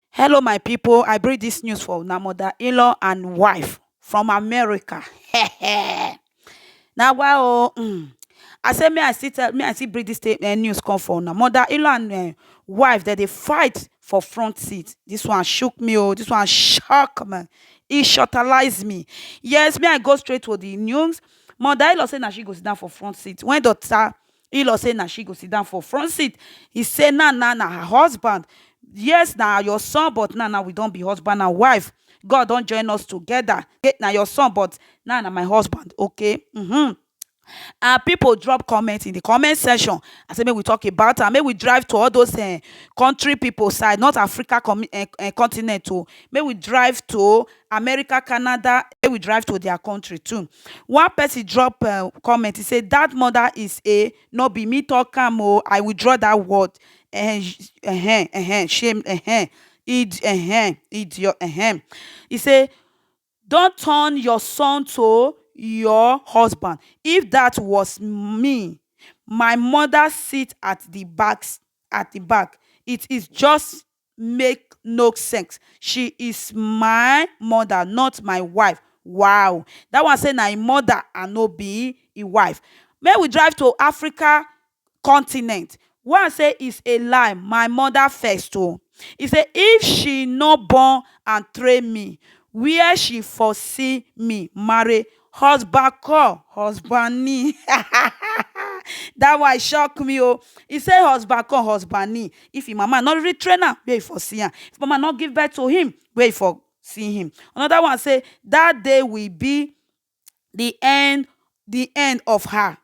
Hello my people, I bring this news for una mother in-law and wife from America. Now why oh, mm. I say me I see tell me I see bring this state, uh, news come for una mother in-law and uh, wife that they fight for front seat. This one shook me oh, this one shock me. It shortalized me. Yes, me I go straight to the news. Mother in-law say now she goes down for front seat. When daughter Ilor say na she go sit down for front seat. He say now now na her husband. Yes, na your son, but now now we don be husband and wife. God don join us together. Okay, na your son, but now na my husband. Okay. Mm-hmm. and people drop comment in the comment section i say make we talk about am make we drive to all those uh, country people side not africa com- uh, uh, continent o oh. make we drive to America, Canada make we drive to their country too one person drop um comment he say that mother is a no be me talk am o I withdraw that word um um um shame um id um idiot um he say don't turn your son to your husband if that was me my mother sit at the back at the back it is just make no sex she is my mother not my wife wow that one say na him mother and no be him wife make we drive to Africa continent one say is a lie my mother first o he say if she no born and train me where she for see me marry Husband call husband ni that one shock me o e say husband call husband ni if him mama no really train am make e for see am if mama no give birth to him make e for see him another one say that day will be the end the end of her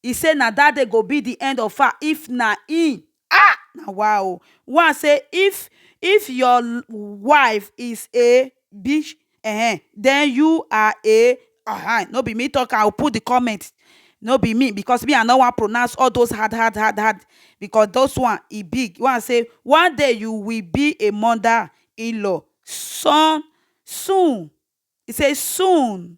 He say na that day go be the end of her if na him ah na wa o. One say if if your wife is a bitch eh then you are a ahan no be me talk am o put the comment no be me because me I no wan pronounce all those hard hard hard hard because those one e big. One say one day you will be a mother in-law son soon he say soon